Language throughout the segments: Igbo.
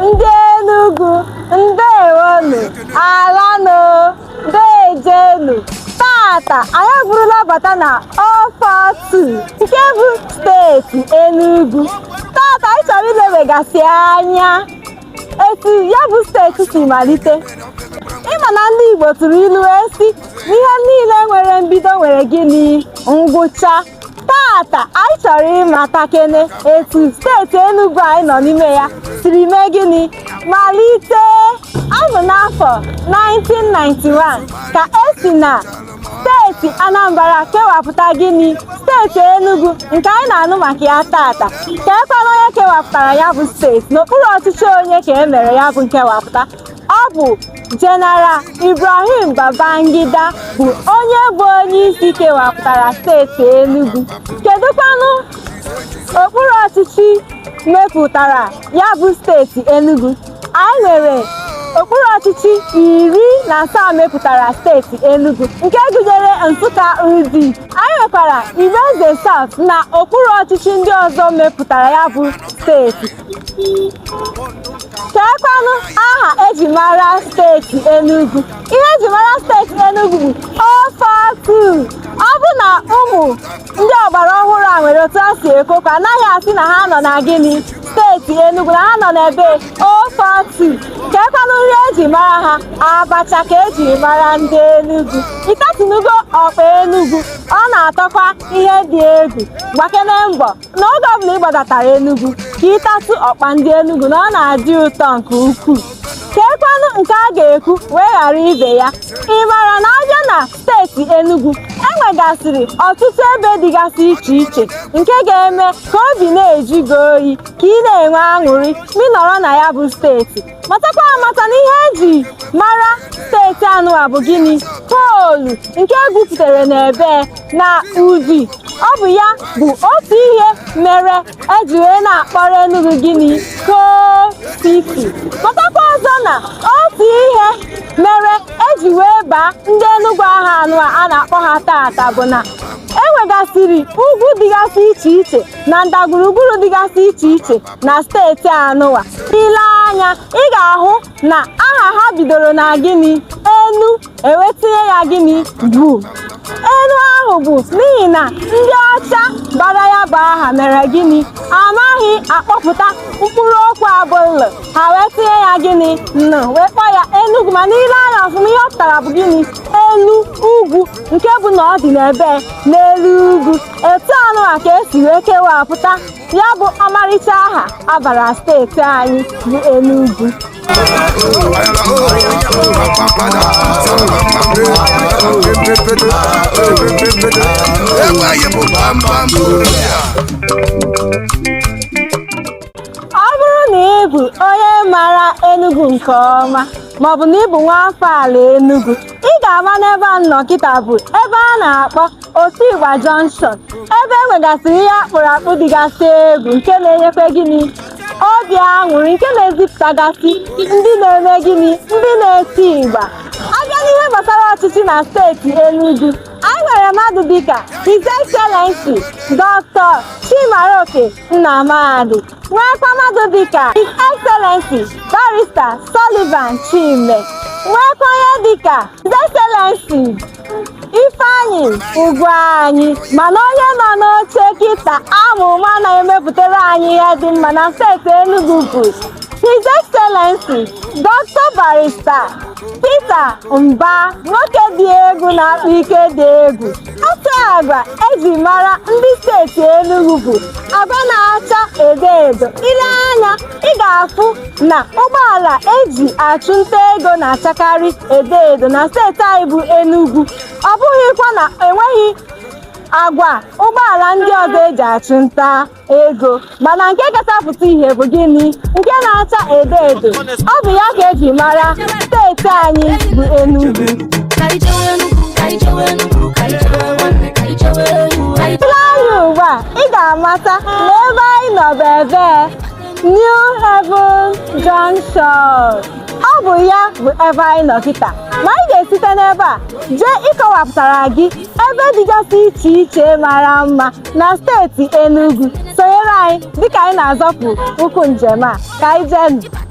ndị Enugu ndewonụ alanụ deejenụ tata anyị bụrụla bata na 042 nke bụ steeti Enugu tata anyị chọrọ ilewegasị anya etu ya bụ steeti si malite ị ma na ndị Igbo tụrụ ilu wee sị ihe niile nwere mbido nwere gịnị ngwụcha tata anyị chọrọ ịmatakene etu steeti Enugu anyị nọ n'ime ya siri mee gịnị malite ọ bụ n'afọ 1991 ka esi na steeti Anambra kewapụta gịnị steeti Enugu nke anyị na-anụ maka ya tata keekwanụ onye kewapụtara ya bụ steeti n'okpuru ọchịchị onye ka e mere ya bụ nkewapụta ọ bụ General Ibrahim Babangida bụ onye bụ onye isi kewapụtara steeti Enugu kedụkwanụ okpuru ọchịchị mepụtara ya bụ steeti Enugu anyị nwere okpuru ọchịchị iri na asaa mepụtara steeti Enugu nke gụnyere Nsụka Udi anyị nwekwara Igbo-Eze South na okpuru ọchịchị ndị ọzọ mepụtara ya bụ steeti keekwanụ aha eji mara steeti Enugu ihe eji mara steeti Enugu bụ 042 ọ bụ na ụmụ ndị ọgbara ọhụrụ a nwere otu ha si ekwu okwu anaghị asị na ha nọ na gịnị steeti Enugu na ha nọ n'ebee 042 keekwanụ nri eji mara ha abacha ka eji mara ndị Enugu ị tatụnụgo ọkpa Enugu ọ na-atọkwa ihe dị egwu gbakene mbọ n'oge ọbụla ị gbadatara Enugu ka ị tatụ ọkpa ndị Enugu na ọ na-adị ụtọ nke ukwuu keekwanụ nke a ga-ekwu wee ghara ibe ya ị mara na a bịa na steeti Enugu enwegasịrị ọtụtụ ebe dịgasị iche iche nke ga-eme ka obi na-ajụ gị oyi ka ị na-enwe aṅụrị ma ị nọrọ na ya bụ steeti matakwa amata na ihe eji mara steeti anụwa bụ gịnị coal nke egwupụtara n'ebee na Udi ọ bụ ya bụ otu ihe mere eji wee na-akpọrọ Enugu gịnị Coal City matakwa ọzọ na otu ihe mere eji wee baa ndị Enugu aha anụwa a na-akpọ ha tata bụ na enwegasịrị ugwu dịgasị iche iche na ndagwurugwuru dịgasị iche iche na steeti anụwa ị lee anya ị ga-ahụ na aha ha bidoro na gịnị enu e wee tinye ya gịnị gu enu ahụ bụ n'ihi na ndị ọcha bara ya bụ aha mere gịnị anaghị akpọpụta mkpụrụ okwu a bụ lụ ha wee tinye ya gịnị nụ wee kpọọ ya Enugu mana ị lee anya ọfụma ihe ọ pụtara bụ gịnị elu ugwu nke bụ na ọ dị n'ebee n'elu ugwu etu anụwa ka esi wee kewapụta ya bụ ọmarịcha aha a bara steeti anyị bụ Enugu ọ bụrụ na ị bụ onye mara Enugu nke ọma maọbụ na ị bụ nwa afọ ala Enugu ị ga-ama n'ebe a nọ kịta bụ ebe a na-akpọ Otigba Junction ebe e nwegasịrị ihe akpụrụ akpụ dịgasị egwu nke na-enyekwa gịnị obi aṅụrị nke na-ezipụtagasị ndị na-eme gịnị ndị na-eti igba a bịa n'ihe gbasara ọchịchị na steeti Enugu anyị nwere mmadụ dịka His Excellency Dr. Chimaroke Nnamani nweekwa mmadụ dịka His Excellency Barrister Sullivan Chime nweekwa onye dịka His Excellency Ifeanyi Ugwuanyi mana onye nọ n'oche kịta a ma na-emepụtara anyị ihe dị mma na steeti Enugu bụ His Excellency Dr. Barrister Peter Mbah nwoke dị egwu na-akpa ike dị egwu otu agwa eji mara ndị steeti Enugu bụ agwa na-acha edo edo i lee anya ị ga-afụ na ụgbọala eji achụ nta ego na-achakarị edo edo na steeti anyị bụ Enugu ọ bụghịkwa na enweghị agwa ụgbọala ndị ọzọ eji achụ nta ego mana nke kacha pụta ihe bụ gịnị nke na-acha edo edo ọ bụ ya ka eji mara steeti anyị bụ Enugu i lee anya ugbu a ị ga-amata na ebe anyị nọ bụ ebee New Haven Junction ọ bụ ya bụ ebe anyị nọ kịta ma anyị ga-esite n'ebe a jee ịkọwapụtara gị ebe dịgasị iche iche mara mma na steeti Enugu sonyere anyị dịka anyị na-azọpụ ụkwụ njem a ka anyị jee nụ.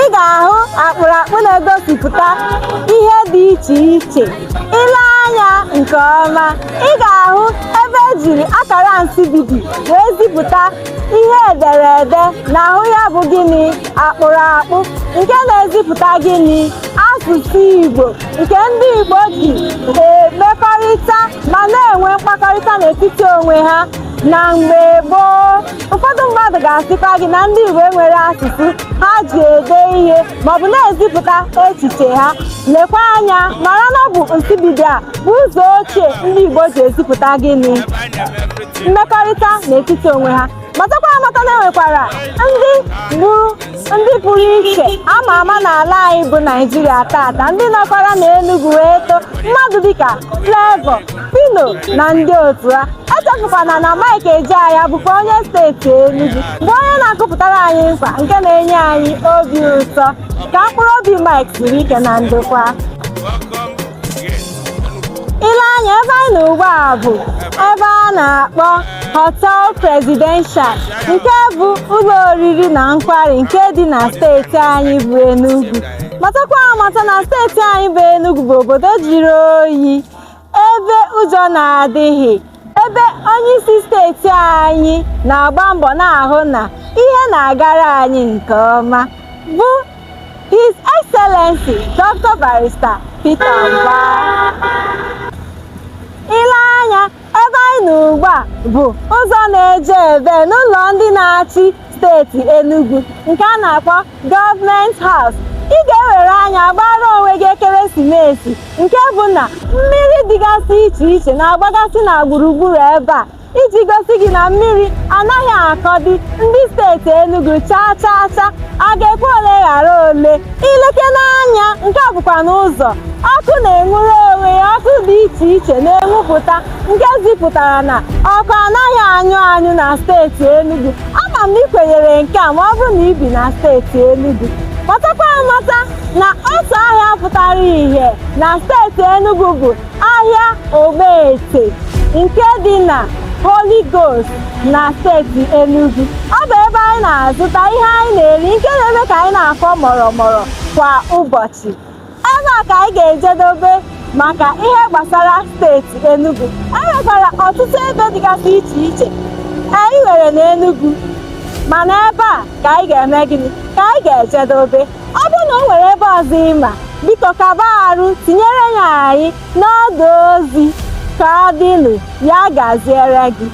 ị ga-ahụ akpụrụakpụ na-egosipụta ihe dị iche iche i lee anya nke ọma ị ga-ahụ ebe ejiri akara nsibidi wee zipụta ihe e dere ede n'ahụ ya bụ gịnị akpụrụakpụ nke na-ezipụta gịnị asụsụ Igbo nke ndị Igbo ji emekọrịta ma na-enwe mkpakọrịta n'etiti onwe ha na mgbe gboo ụfọdụ mmadụ ga-asịkwa gị na ndị Igbo enwere asụsụ ha ji ede ihe maọbụ na-ezipụta echiche ha lekwa anya mara na ọ bụ nsibidi a bụ ụzọ ochie ndị Igbo ji ezipụta gịnị mmekọrịta n'etiti onwe ha matakwa amata na e nwekwara ndị gburu ndị pụrụ iche ama ama n'ala anyị bụ Naịjirịa tata ndị nọkwara na Enugu wee too mmadụ dịka Flavour Phyno na ndị otu ha echefukwana na Mike Ejeagha bụkwa onye steeti Enugu bụ onye na-akụpụtara anyị nkwa nke na-enye anyị obi ụtọ ka mkpụrụ obi Mike zuru ike na ndokwa i lee anya ebe anyị nọ ugbu a bụ ebe a na-akpọ Hotel Presidential nke bụ ụlọ oriri na nkwari nke dị na steeti anyị bụ Enugu matakwa amata na steeti anyị bụ Enugu bụ obodo jụrụ oyi ebe ụzụ na-adịghị ebe onyeisi steeti anyị na-agba mbọ na-ahụ na ihe na-agara anyị nke ọma bụ His Excellency Dr. Barrister Peter Mbah. I lee anya ebe anyị nọ ugbu a bụ ụzọ na-eje ebe n'ụlọ ndị na-achị steeti Enugu nke a na-akpọ Government House ị ga-ewere anya gbaara onwe gị ekeresimesi nke bụ na mmiri dịgasị iche iche na-agbagasị na gburugburu ebe a iji gosi gị na mmiri anaghị akọdị ndị steeti Enugu chaa chaa chaa a ga-ekwu ole ghara ole i lekene anya nke a bụkwanụ ụzọ ọkụ na-enwuru onwe ya ọkụ dị iche iche na-enwupụta nke zipụtara na ọkụ anaghị anyụ anyụ na steeti Enugu ama m na ị kwenyere nke a ma ọ bụrụ na i bi na steeti Enugu matakwa amata na otu ahịa pụtara ihe na steeti Enugu bụ ahịa Ogbete nke dị na Holy Ghost na steeti Enugu ọ bụ ebe anyị na-azụta ihe anyị na-eri nke na-eme ka anyị na-akwọ mụrụmụrụ kwa ụbọchị ebe a ka anyị ga-ejedobe maka ihe gbasara steeti Enugu e nwekwara ọtụtụ ebe dịgasị iche iche anyị nwere n'Enugu mana ebe a ka anyị ga-eme gịnị ka anyị ga-ejedobe ọ bụrụ na o nwere ebe ọzọ ị ma biko kaba arụ tinyere ya anyị n'ọdụ ozi ka ọ dịnụ ya gaziere gị